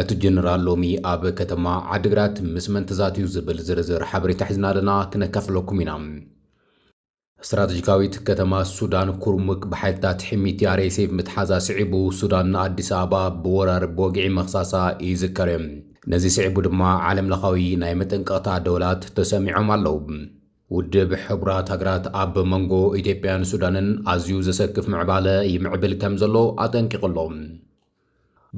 እቲ ጀነራል ሎሚ ኣብ ከተማ ዓዲግራት ምስ መን ተዛትዩ ዝብል ዝርዝር ሓበሬታ ሒዝና ኣለና ክነካፍለኩም ኢና። ስትራተጂካዊት ከተማ ሱዳን ኩርሙክ ብሓይልታት ሕሚቲ RSF ምትሓዛ ስዒቡ ሱዳን ንኣዲስ ኣበባ ብወራር ብወግዒ ምኽሳሳ ይዝከር። ነዚ ስዒቡ ድማ ዓለም ለኻዊ ናይ መጠንቀቕታ ደወላት ተሰሚዖም ኣለዉ። ውድብ ሕቡራት ሃገራት ኣብ መንጎ ኢትዮጵያን ሱዳንን ኣዝዩ ዘሰክፍ ምዕባለ ይምዕብል ከምዘሎ ኣጠንቂቑ ኣሎ።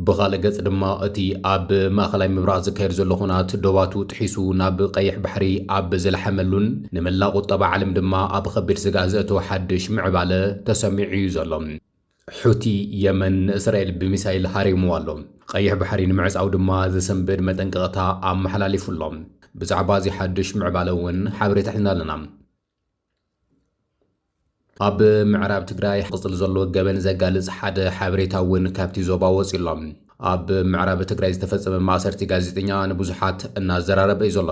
ብኻልእ ገፅ ድማ እቲ ኣብ ማእኸላይ ምብራቕ ዝካየድ ዘሎ ኹናት ዶባቱ ጥሒሱ ናብ ቐይሕ ባሕሪ ኣብ ዝላሓመሉን ንመላእ ቑጠባ ዓለም ድማ ኣብ ኸቢድ ስግኣት ዘእተወ ሓድሽ ምዕባለ ተሰሚዑ እዩ ዘሎ። ሑቲ የመን ንእስራኤል ብሚሳይል ሃሪምዋ ኣሎ። ቐይሕ ባሕሪ ንምዕፃው ድማ ዘሰንብድ መጠንቀቕታ ኣመሓላሊፉ ኣሎ። ብዛዕባ እዚ ሓዱሽ ምዕባለ እውን ሓበሬታ ሒዝና ኣለና። ኣብ ምዕራብ ትግራይ ቅፅል ዘሎ ገበን ዘጋልፅ ሓደ ሓበሬታ እውን ካብቲ ዞባ ወፂኡ ኣሎ። ኣብ ምዕራብ ትግራይ ዝተፈፀመ ማእሰርቲ ጋዜጠኛ ንብዙሓት እናዘራረበ እዩ ዘሎ።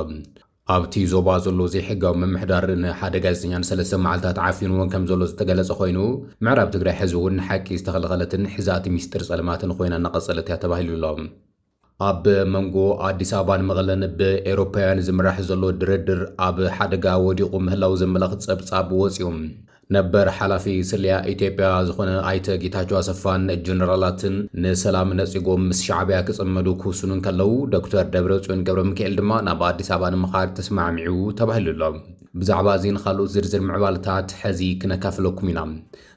ኣብቲ ዞባ ዘሎ ዘይሕጋዊ ምምሕዳር ንሓደ ጋዜጠኛ ንሰለስተ መዓልታት ዓፊንዎን ከም ዘሎ ዝተገለፀ ኮይኑ ምዕራብ ትግራይ ሕዚ እውን ንሓቂ ዝተኸልኸለትን ሕዛእቲ ሚስጥር ፀልማትን ኮይና እናቐፀለት እያ ተባሂሉ ኣሎ። ኣብ መንጎ ኣዲስ ኣበባን መቐለን ብኤሮፓውያን ዝምራሕ ዘሎ ድርድር ኣብ ሓደጋ ወዲቑ ምህላው ዘመላኽት ጸብጻብ ወጽዩ። ነበር ሓላፊ ስለያ ኢትዮጵያ ዝኾነ ኣይተ ጌታቸው ኣሰፋን ጀነራላትን ንሰላም ነጺጎም ምስ ሻዕቢያ ክጽመዱ ክውስኑ እንከለው ዶክተር ደብረጽዮን ገብረ ሚካኤል ድማ ናብ ኣዲስ ኣበባ ንምኻድ ተስማዕሚዑ ተባሂሉ ኣሎ። ብዛዕባ እዚን ካልኦት ዝርዝር ምዕባለታት ሕዚ ክነካፍለኩም ኢና።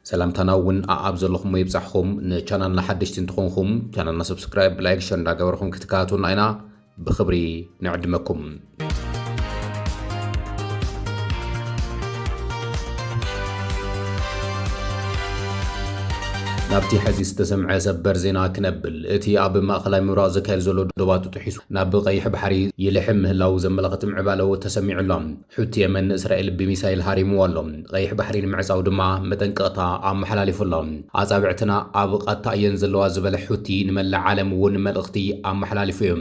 ሰላምታና እውን ኣኣብ ዘለኹሞ ይብጻሕኹም። ንቻናልና ሓደሽቲ እንትኾንኹም ቻናልና ሰብስክራይብ፣ ላይክ፣ ሸር እንዳገበርኹም ክትከታተሉና ኢና ብኽብሪ ንዕድመኩም። ናብቲ ሕዚ ዝተሰምዐ ሰበር ዜና ክነብል እቲ ኣብ ማእኸላይ ምብራቕ ዘካየድ ዘሎ ዶባት ጥሒሱ ናብ ቀይሕ ባሕሪ ይልሕም ምህላው ዘመላኽት ምዕባለ ተሰሚዑ ኣሎ። ሑቲ የመን ንእስራኤል ብሚሳይል ሃሪምዎ ኣሎ፣ ቐይሕ ባሕሪ ንምዕጻው ድማ መጠንቀቕታ ኣመሓላሊፉ ኣሎ። ኣጻብዕትና ኣብ ቓታ እየን ዘለዋ ዝበለ ሑቲ ንመላእ ዓለም እውን መልእኽቲ ኣመሓላሊፉ እዩ።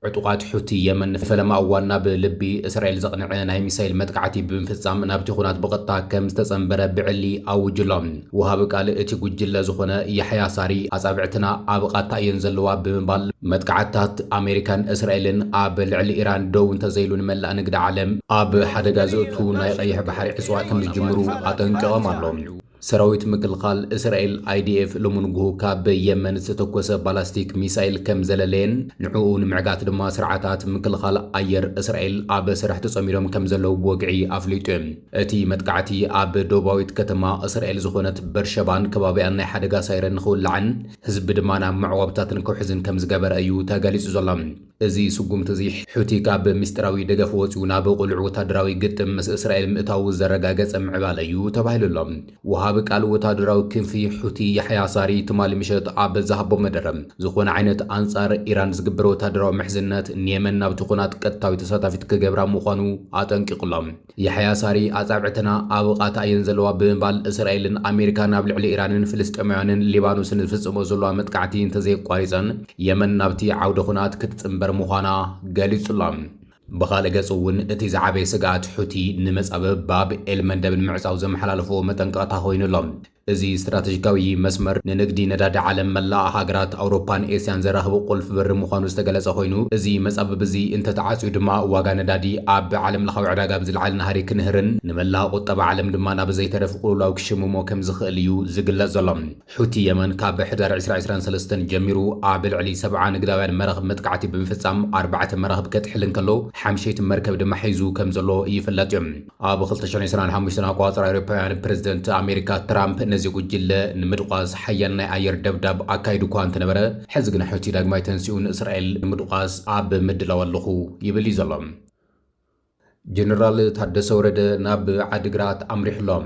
ዕጡቓት ሑቲ የመን ንፈለማ እዋን ናብ ልቢ እስራኤል ዘቕንዐ ናይ ሚሳይል መጥቃዕቲ ብምፍጻም ናብቲ ኹናት ብቐጥታ ከም ዝተጸንበረ ብዕሊ ኣውጁ ኣሎ። ወሃቢ ቃል እቲ ጉጅለ ዝኾነ ያሕያ ሳሪ፣ ኣጻብዕትና ኣብ ቓታ እየን ዘለዋ ብምባል፣ መጥቃዕትታት ኣሜሪካን እስራኤልን ኣብ ልዕሊ ኢራን ደው እንተዘይሉ ንመላእ ንግዲ ዓለም ኣብ ሓደጋ ዘእቱ ናይ ቐይሕ ባሕሪ ዕጽዋ ከምዝጅምሩ ኣጠንቂቖም ኣሎ። ሰራዊት ምክልኻል እስራኤል፣ ኣይዲኤፍ፣ ሎሚ ንጉሁ ካብ የመን ዝተተኮሰ ባላስቲክ ሚሳይል ከምዘለለየን ንዕኡ ንምዕጋት ድማ ስርዓታት ምክልኻል ኣየር እስራኤል ኣብ ስራሕ ተጸሚዶም ከምዘለዉ ብወግዒ ኣፍሊጡ'ዩ። እቲ መጥቃዕቲ ኣብ ደቡባዊት ከተማ እስራኤል ዝኾነት በርሸባን ከባቢኣን ናይ ሓደጋ ሳይረን ንኽውላዕን ህዝቢ ድማ ናብ መዕቆብታት ንክውሕዝን ከም ዝገበረ እዩ ተገሊጹ ዘሎ። እዚ ስጉምቲ እዚ ሑቲ ካብ ምስጢራዊ ደገፍ ወጺኡ ናብ ቅሉዕ ወታደራዊ ግጥም ምስ እስራኤል ምእታዉ ዘረጋገጸ ምዕባለ እዩ ተባሂሉ ኣሎ። ወሃቢ ቃል ወታደራዊ ክንፊ ሑቲ ያሕያ ሳሪ ትማሊ ምሸት ኣብ ዝሃቦ መደረ፣ ዝኾነ ዓይነት ኣንጻር ኢራን ዝግበር ወታደራዊ ምሕዝነት ንየመን ናብቲ ኹናት ቀጥታዊት ተሳታፊት ክገብራ ምዃኑ ኣጠንቂቑ ኣሎ። ያሕያ ሳሪ፣ ኣጻብዕትና ኣብ ቓታ እየን ዘለዋ ብምባል፣ እስራኤልን ኣሜሪካን ኣብ ልዕሊ ኢራንን ፍልስጤማውያንን ሊባኖስን ዝፍጽሞ ዘለዋ መጥቃዕቲ እንተዘየቋሪጸን፣ የመን ናብቲ ዓውደ ኹናት ክትጽንበር ምዃና ገሊጹ'ሎ። ብኻልእ ገጽ'ውን እቲ ዝዓበየ ስግኣት ሑቲ ንመጻብብ ባብ ኤል-መንደብ ንምዕጻው ዘመሓላለፍዎ መጠንቀቕታ ኮይኑ ኣሎ። እዚ ስትራተጂካዊ መስመር ንንግዲ ነዳዲ ዓለም መላእ ሃገራት ኣውሮፓን ኤስያን ዘራኽብ ቁልፊ በሪ ምዃኑ ዝተገለጸ ኮይኑ፣ እዚ መጻብብ'ዚ እንተተዓጽዩ ድማ ዋጋ ነዳዲ ኣብ ዓለምለኻዊ ዕዳጋ ብዝልዓል ናህሪ ክንህርን ንመላእ ቁጠባ ዓለም ድማ ናብ ዘይተረፍ ቁልውላው ክሽምሞ ከምዝኽእል እዩ ዝግለጽ ዘሎ። ሑቲ የመን ካብ ሕዳር ዕስራ ዕስራን ሰለስተን ጀሚሩ ኣብ ልዕሊ ሰብዓ ንግዳውያን መራኽብ መጥቃዕቲ ብምፍጻም ኣርባዕተ መራኽብ ከጥሕል እንከሎ ሓምሸይቲ መርከብ ድማ ሒዙ ከምዘሎ ይፍለጥ እዩ። ኣብ 2025 ኣቋጽራ ኣውሮፓውያን ፕረዚደንት ኣሜሪካ ትራምፕ ነዚ ጉጅለ ንምድቋስ ሓያል ናይ ኣየር ደብዳብ ኣካይዱ እኳ እንተነበረ ሕዚ ግን ሑቲ ዳግማይ ተንሲኡ ንእስራኤል ንምድቋስ ኣብ ምድላው ኣለኹ ይብል እዩ ዘሎ። ጀነራል ታደሰ ወረደ ናብ ዓዲግራት ኣምሪሑ ኣሎ።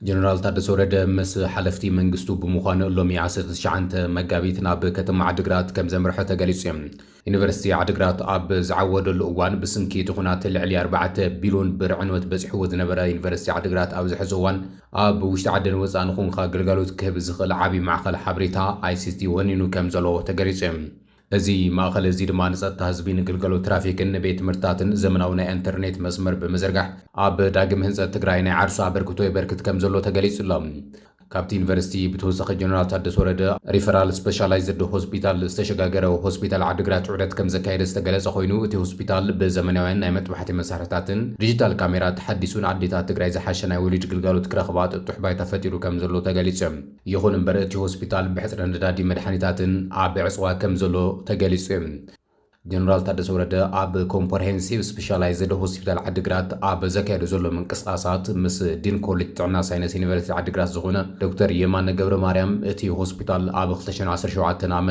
ጀነራል ታደሰ ወረደ ምስ ሓለፍቲ መንግስቱ ብምዃን ሎሚ ዓሰርተ ትሽዓተ መጋቢት ናብ ከተማ ዓዲግራት ከምዘምርሐ ተገሊፁ። ዩኒቨርሲቲ ዓዲግራት ኣብ ዝዓወደሉ እዋን ብስንኪ እቲ ኹናት ልዕሊ ኣርባዕተ ቢሎን ብር ዕንወት በፂሕዎ ዝነበረ ዩኒቨርሲቲ ዓዲግራት ኣብዚ ሕዚ እዋን ኣብ ውሽጢ ዓድን ወፃእን ኹንካ ግልጋሎት ክህብ ዝኽእል ዓብዪ ማዕኸል ሓበሬታ፣ ICT፣ ወኒኑ ከምዘሎ ተገሊፁ። እዚ ማእኸል እዚ ድማ ንፀጥታ ህዝቢ፣ ንግልገሎት ትራፊክን ንቤት ትምህርትታትን ዘመናዊ ናይ ኣንተርኔት መስመር ብምዝርጋሕ ኣብ ዳግም ህንፀት ትግራይ ናይ ዓርሱ ኣበርክቶ የበርክት ከምዘሎ ተገሊፁ ኣሎ። ካብቲ ዩኒቨርሲቲ ብተወሳኺ ጀነራል ታደሰ ወረደ ሪፈራል ስፔሻላይዝድ ሆስፒታል ዝተሸጋገረ ሆስፒታል ዓዲግራት ዑደት ከምዘካየደ ዝተገለፀ ኮይኑ እቲ ሆስፒታል ብዘመናውያን ናይ መጥባሕቲ መሳርሕታትን ዲጂታል ካሜራ ተሓዲሱን ኣዴታት ትግራይ ዝሓሸ ናይ ወሊድ ግልጋሎት ክረኽባ ጥጡሕ ባይታ ፈጢሩ ከምዘሎ ተገሊፁ። ይኹን እምበር እቲ ሆስፒታል ብሕፅረት ነዳዲን መድሓኒታትን ኣብ ዕፅዋ ከምዘሎ ተገሊፁ ዩ። ጀነራል ታደሰ ወረደ ኣብ ኮምፐርሄንሲቭ ስፔሻላይዝድ ሆስፒታል ዓዲግራት ኣብ ዘካየዶ ዘሎ ምንቅስቓሳት ምስ ዲን ኮሌጅ ጥዕና ሳይነስ ዩኒቨርሲቲ ዓዲግራት ዝኾነ ዶክተር የማነ ገብረማርያም እቲ ሆስፒታል ኣብ ክልተ ሽሕን ዓሰርተ ሸውዓተን ዓ.ም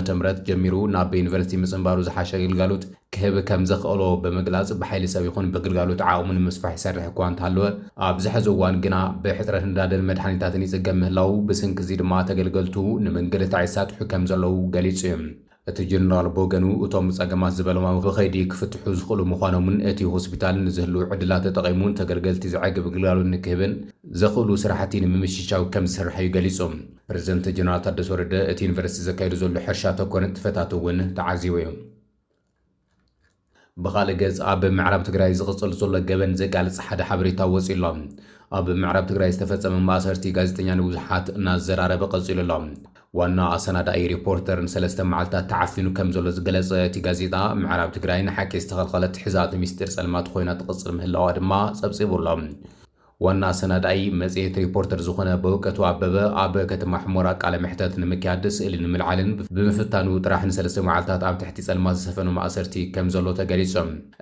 ጀሚሩ ናብ ዩኒቨርሲቲ ምፅንባሩ ዝሓሸ ግልጋሎት ክህብ ከም ዘኽእሎ ብምግላጽ ብሓይሊ ሰብ ይኹን ብግልጋሎት ዓቕሙ ንምስፋሕ ይሰርሕ እኳ እንተሃለወ ኣብዚ ሕዚ እዋን ግና ብሕጽረት ነዳድን መድሓኒታትን ይጽገም ምህላዉ ብስንኪ እዚ ድማ ተገልገልቱ ንምንግልታዕ ይሳጥሑ ከም ዘለዉ ገሊጹ እዩ። እቲ ጀነራል ብወገኑ እቶም ጸገማት ዝበሎም ኣብ ብኸይዲ ክፍትሑ ዝኽእሉ ምዃኖምን እቲ ሆስፒታል ንዝህልዉ ዕድላት ተጠቒሙ ንተገልገልቲ ዘዕግብ ግልጋሎት ንክህብን ዘኽእሉ ስራሕቲ ንምምችቻው ከም ዝስራሕ እዩ ገሊጹ። ፕረዚደንት ጀነራል ታደሰ ወረደ እቲ ዩኒቨርሲቲ ዘካይዶ ዘሎ ሕርሻ ተኮር ንጥፈታት እውን ተዓዚቡ እዩ። ብኻልእ ገፅ ኣብ ምዕራብ ትግራይ ዝቕፅል ዘሎ ገበን ዘጋልፅ ሓደ ሓበሬታ ወፂኡ ኣሎ። ኣብ ምዕራብ ትግራይ ዝተፈፀመ ማእሰርቲ ጋዜጠኛ ንብዙሓት እናዘራረበ ቀፂሉ ኣሎ። ዋና ኣሰናዳኢ ሪፖርተር ንሰለስተ መዓልታት ተዓፊኑ ከም ዘሎ ዝገለፀ እቲ ጋዜጣ፣ ምዕራብ ትግራይ ንሓቂ ዝተኸልኸለት ሕዛእቲ ሚስጢር ፀልማት ኾይና ትቕፅል ምህላዋ ድማ ፀብፂቡ ኣሎ። ዋና ኣሰናዳኢ መጽሔት ሪፖርተር ዝዀነ በውቀቱ ኣበበ፣ ኣብ ከተማ ሑመራ ቃለ መሕተት ንምክያድ ስእሊ ንምልዓልን ብምፍታኑ ጥራሕ ንሰለስተ መዓልታት ኣብ ትሕቲ ጸልማት ዝሰፈኖ ማእሰርቲ ከም ዘሎ ተገሊጹ።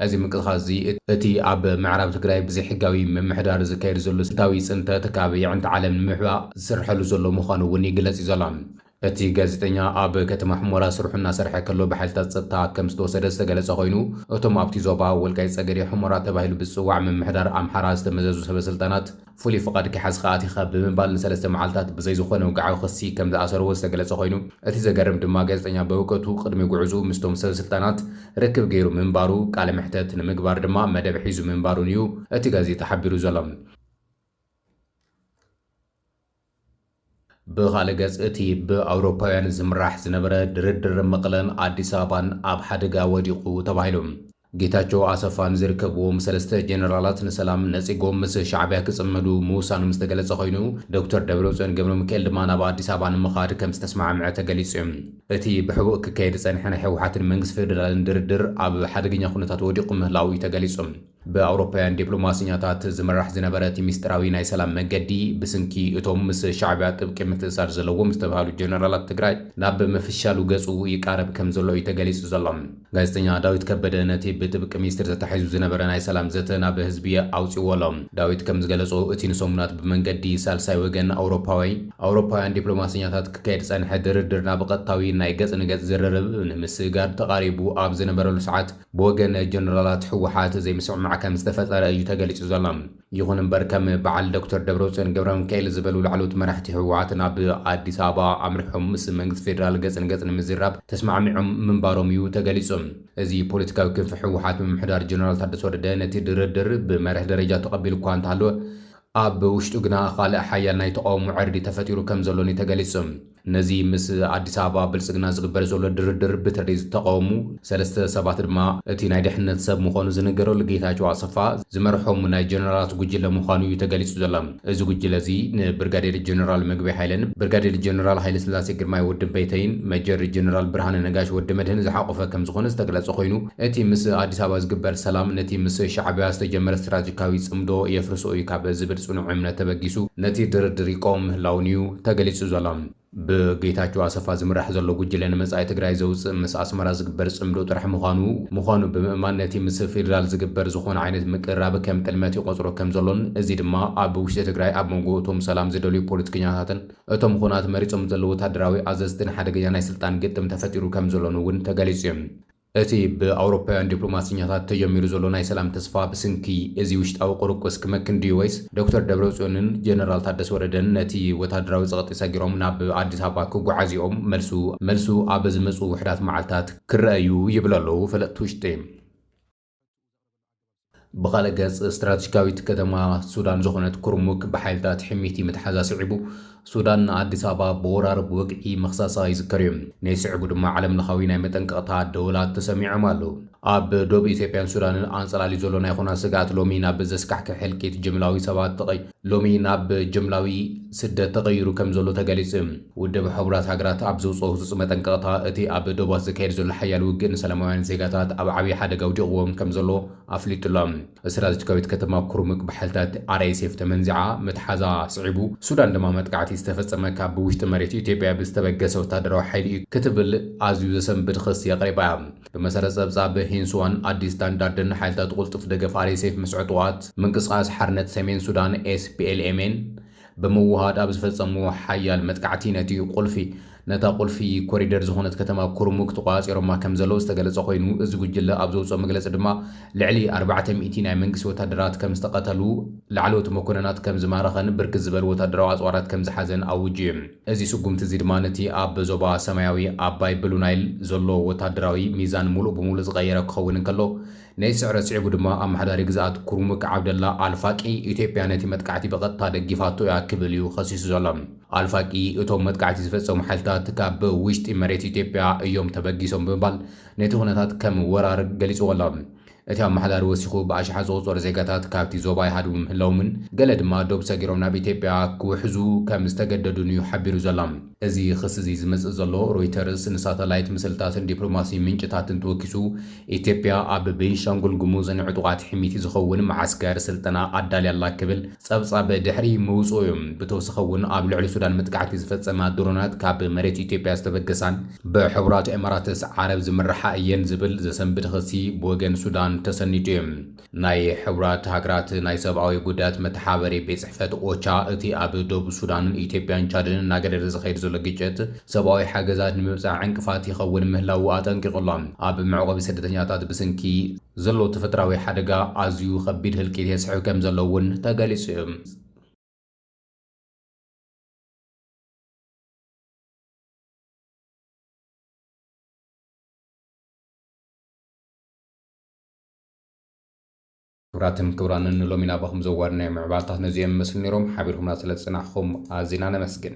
እዚ ምንቅስቓስ እዚ እቲ ኣብ ምዕራብ ትግራይ ብዘይሕጋዊ ምምሕዳር ዝካየድ ዘሎ ስልታዊ ጽንተት ካብ የዕንቲ ዓለም ንምሕባእ ዝስርሐሉ ዘሎ ምዃኑ እውን ይግለጽ'ዩ ዘሎ። እቲ ጋዜጠኛ ኣብ ከተማ ሑሞራ ስርሑ እናሰርሐ ከሎ ብሓይልታት ጸጥታ ከም ዝተወሰደ ዝተገለጸ ኮይኑ፣ እቶም ኣብቲ ዞባ ወልቃይት ጸገዴ ሑሞራ ተባሂሉ ብዝጽዋዕ ምምሕዳር ኣምሓራ ዝተመዘዙ ሰበስልጣናት፣ ፍሉይ ፍቓድ ከይሓዝካ ኣቲኻ ብምባል ንሰለስተ መዓልታት ብዘይ ዝኾነ ውግዓዊ ክሲ ከም ዝኣሰርዎ ዝተገለጸ ኮይኑ፣ እቲ ዘገርም ድማ ጋዜጠኛ በውቀቱ ቅድሚ ጉዕዝኡ ምስቶም ሰበስልጣናት ርክብ ገይሩ ምንባሩ፣ ቃለ መሕተት ንምግባር ድማ መደብ ሒዙ ምንባሩን እዩ እቲ ጋዜጣ ሓቢሩ ዘሎ። ብኻልእ ገፅ እቲ ብኣውሮፓውያን ዝምራሕ ዝነበረ ድርድር መቐለን ኣዲስ ኣበባን ኣብ ሓደጋ ወዲቑ ተባሂሉ። ጌታቸው ኣሰፋን ዝርከብዎም ሰለስተ ጀነራላት ንሰላም ነፂጎም ምስ ሻዕቢያ ክፅመዱ ምውሳኖም ዝተገለፀ ኮይኑ ዶክተር ደብረፅዮን ገብረሚካኤል ድማ ናብ ኣዲስ ኣበባ ንምኻድ ከምዝተስማዕምዐ ተገሊፁ እዩ። እቲ ብሕቡእ ክካየድ ዝፀንሐ ናይ ህወሓትን መንግስቲ ፌደራልን ድርድር ኣብ ሓደገኛ ኩነታት ወዲቑ ምህላዉ እዩ ተገሊፁ። ብኣውሮፓውያን ዲፕሎማሰኛታት ዝምራሕ ዝነበረ እቲ ሚስጢራዊ ናይ ሰላም መገዲ ብስንኪ እቶም ምስ ሻዕቢያ ጥብቂ ምትእሳር ዘለዎም ዝተብሃሉ ጀነራላት ትግራይ ናብ ምፍሻሉ ገፁ ይቃረብ ከም ዘሎ እዩ ተገሊፁ ዘሎ። ጋዜጠኛ ዳዊት ከበደ ነቲ ብጥብቂ ሚስጢር ተታሒዙ ዝነበረ ናይ ሰላም ዘተ ናብ ህዝቢ ኣውፂእዎ ኣሎ። ዳዊት ከም ዝገለፆ እቲ ንሰሙናት ብመንገዲ ሳልሳይ ወገን ኣውሮፓዊ ኣውሮፓውያን ዲፕሎማሰኛታት ክካየድ ዝፀንሐ ድርድር ናብ ቐጥታዊ ናይ ገፅ ንገፅ ዝርርብ ንምስግጋር ተቓሪቡ ኣብ ዝነበረሉ ሰዓት ብወገን ጀነራላት ህወሓት ዘይምስምማዕ ከም ዝተፈጠረ እዩ ተገሊፁ ዘሎ። ይኹን እምበር ከም በዓል ዶክተር ደብረፅዮን ገብረሚካኤል ዝበሉ ላዕለዎት መራሕቲ ህወሓት ናብ ኣዲስ ኣበባ ኣምሪሖም ምስ መንግስቲ ፌደራል ገፅ ንገፅ ንምዝራብ ተስማዕሚዖም ምንባሮም እዩ ተገሊፁ። እዚ ፖለቲካዊ ክንፊ ህወሓት ምምሕዳር ጀነራል ታደሰ ወረደ ነቲ ድርድር ብመርህ ደረጃ ተቐቢሉ እኳ እንተሃለወ ኣብ ውሽጡ ግና ኻልእ ሓያል ናይ ተቓውሞ ዕርዲ ተፈጢሩ ከም ዘሎን እዩ ተገሊፁ። ነዚ ምስ ኣዲስ ኣበባ ብልጽግና ዝግበር ዘሎ ድርድር ብተለይ ዝተቐወሙ ሰለስተ ሰባት ድማ እቲ ናይ ድሕነት ሰብ ምኾኑ ዝንገረሉ ጌታቸው ኣሰፋ ዝመርሖም ናይ ጀነራላት ጉጅለ ምዃኑ እዩ ተገሊጹ ዘሎ። እዚ ጉጅለ እዚ ንብርጋዴር ጀነራል ምግበይ ሃይለን፣ ብርጋዴር ጀነራል ሃይለስላሴ ግርማይ ወዲ በይተይን፣ መጀር ጀነራል ብርሃነ ነጋሽ ወዲ መድህን ዝሓቖፈ ከምዝኾነ ዝተገለጸ ኮይኑ እቲ ምስ ኣዲስ ኣበባ ዝግበር ሰላም ነቲ ምስ ሻዕቢያ ዝተጀመረ ስትራጂካዊ ጽምዶ የፍርሶ እዩ ካብ ዝብል ጽኑዕ እምነት ተበጊሱ ነቲ ድርድር ይቀውም ምህላዉን እዩ ተገሊፁ ዘሎ። ብጌታቸው ኣሰፋ ዝምራሕ ዘሎ ጉጅለ ንመፃኢ ትግራይ ዘውፅእ ምስ ኣስመራ ዝግበር ፅምዶ ጥራሕ ምዃኑ ምዃኑ ብምእማን ነቲ ምስ ፌዴራል ዝግበር ዝኾነ ዓይነት ምቅርራብ ከም ጥልመት ይቖፅሮ ከም ዘሎን እዚ ድማ ኣብ ውሽጢ ትግራይ ኣብ መንጎ እቶም ሰላም ዝደልዩ ፖለቲከኛታትን እቶም ኹናት መሪፆም ዘለዉ ወታደራዊ ኣዘዝትን ሓደገኛ ናይ ስልጣን ግጥም ተፈጢሩ ከም ዘሎን እውን ተገሊፁ እዩ። እቲ ብኣውሮፓውያን ዲፕሎማሰኛታት ተጀሚሩ ዘሎ ናይ ሰላም ተስፋ ብስንኪ እዚ ውሽጣዊ ቁርቁስ ክመክን ድዩ ወይስ ዶክተር ደብረጽዮንን ጀነራል ታደሰ ወረደን ነቲ ወታደራዊ ጸቕጢ ሰጊሮም ናብ ኣዲስ ኣበባ ክጓዓዙ'ዮም? መልሱ መልሱ ኣብ ዝመጽኡ ውሑዳት መዓልታት ክረኣ'ዩ ይብሉ ኣለዉ ፈለጥቲ ውሽጢ። ብኻልእ ገፅ ስትራቴጂካዊት ከተማ ሱዳን ዝኾነት ኩርሙክ ብሓይልታት ሕሚቲ ምትሓዛ ስዒቡ ሱዳን ንኣዲስ ኣበባ ብወራር ብወግዒ ምኽሳሳ ይዝከር እዩ። ነዚ ስዕቡ ድማ ዓለም ለኻዊ ናይ መጠንቀቕታ ደወላት ተሰሚዖም ኣለዉ። ኣብ ዶብ ኢትዮጵያን ሱዳንን ኣንፀላልዩ ዘሎ ናይ ኹናት ስግኣት ሎሚ ናብ ዘስካሕክሕ ህልቂት ጅምላዊ ሰባት ጥቕይ፣ ሎሚ ናብ ጅምላዊ ስደት ተቐይሩ ከም ዘሎ ተገሊጹ። ውድብ ሕቡራት ሃገራት ኣብ ዘውጽኦ ህጹጽ መጠንቀቕታ፣ እቲ ኣብ ዶባት ዝካየድ ዘሎ ሓያል ውግእ ንሰላማውያን ዜጋታት ኣብ ዓብዪ ሓደጋ ኣውዲቕዎም ከም ዘሎ ኣፍሊጡ ኣሎ። ስትራተጂካዊት ከተማ ኩርሙክ ብሓይልታት RSF ተመንዚዓ ምትሓዛ ስዒቡ፣ ሱዳን ድማ መጥቃዕቲ ዝተፈጸመ ካብ ውሽጢ መሬት ኢትዮጵያ ብዝተበገሰ ወተሃደራዊ ሓይሊ'ዩ ክትብል ኣዝዩ ዘሰንብድ ክሲ ኣቕሪባ እያ። ብመሰረት ጸብጻብ ሂንስዋን ኣዲስ ስታንዳርድን፣ ሓይልታት ቁልጡፍ ደገፍ ኣርኤስኤፍ ምስ ዕጡቓት ምንቅስቓስ ሓርነት ሰሜን ሱዳን፣ ኤስፒኤልኤምኤን፣ ብምውሃድ ኣብ ዝፈጸምዎ ሓያል መጥቃዕቲ ነቲ ቁልፊ ነታ ቁልፊ ኮሪደር ዝኾነት ከተማ ኩርሙክ ተቖጻጺሮማ ከምዘለዉ ዝተገለጸ ኮይኑ፣ እዚ ጉጅለ ኣብ ዘውጽኦ መግለጺ ድማ ልዕሊ ኣርባዕተ ሚእቲ ናይ መንግስቲ ወታደራት ከምዝተቐተሉ፣ ላዕለዎት መኮነናት ከምዝማረኸን ብርክት ዝበሉ ወታደራዊ ኣጽዋራት ከምዝሓዘን ኣዊጁ እዩ። እዚ ስጉምቲ እዚ ድማ ነቲ ኣብ ዞባ ሰማያዊ ኣባይ፣ ብሉ ናይል፣ ዘሎ ወተሃደራዊ ሚዛን ምሉእ ብምሉእ ዝቐየረ ክኸውን እንከሎ፣ ነዚ ስዕረት ስዒቡ ድማ ኣመሓዳሪ ግዝኣት ኩርሙክ ዓብደላ ኣል ፋቂ፣ ኢትዮጵያ ነቲ መጥቃዕቲ ብቐጥታ ደጊፋቶ እያ ክብል እዩ ኸሲሱ ዘሎ። ኣል ፋቂ፣ እቶም መጥቃዕቲ ዝፈጸሙ ሓይልታት ካብ ውሽጢ መሬት ኢትዮጵያ እዮም ተበጊሶም ብምባል ነቲ ኵነታት ከም ወራር ገሊጽዎ ኣሎ። እቲ ኣመሓዳሪ ወሲኹ፣ ብኣሽሓት ዝቑጸሩ ዜጋታት ካብቲ ዞባ ይሃድሙ ምህላዎምን ገለ ድማ ዶብ ሰጊሮም ናብ ኢትዮጵያ ክውሕዙ ከም ዝተገደዱን'ዩ ሓቢሩ ዘሎ። እዚ ኽሲ'ዚ ዝመጽእ ዘሎ፣ ሮይተርስ ንሳተላይት ምስልታትን ዲፕሎማሲ ምንጭታትን ተወኪሱ፣ ኢትዮጵያ ኣብ ቤንሻንጉል ጉሙዝ ንዕጡቓት ሕምይቲ ዝኸውን መዓስከር ስልጠና ኣዳልያ ኣላ ክብል ጸብጻብ ድሕሪ ምውጽኡ፣ ብተውሳኺ'ውን ኣብ ልዕሊ ሱዳን መጥቃዕቲ ዝፈጸማ ድሮናት ካብ መሬት ኢትዮጵያ ዝተበገሳን ብሕቡራት ኤመራትስ ዓረብ ዝምርሓ እየን ዝብል ዘሰንብድ ኽሲ ብወገን ሱዳን ተሰኒዱ እዩ። ናይ ሕቡራት ሃገራት ናይ ሰብኣዊ ጉዳያት መተሓባበሪ ቤት ጽሕፈት፣ ኦቻ፣ እቲ ኣብ ዶብ ሱዳንን ኢትዮጵያን ቻድን እናገደደ ዝኸይድ ዘሎ ግጭት ሰብኣዊ ሓገዛት ንምብጻሕ ዕንቅፋት ይኸውን ምህላዉ ኣጠንቂቑ'ሎ። ኣብ መዕቖቢ ስደተኛታት ብስንኪ ዘሎ ተፈጥራዊ ሓደጋ ኣዝዩ ከቢድ ህልቂት የስዕብ ከምዘሎ እውን ተገሊጹ እዩ። ክብራትን ክብራንን ንሎሚ ናባኹም ዘዋድናዮም ምዕባለታት ነዚኦም ይመስሉ ነይሮም። ሓቢርኩምና ስለዝጸናሕኹም ኣዚና ነመስግን።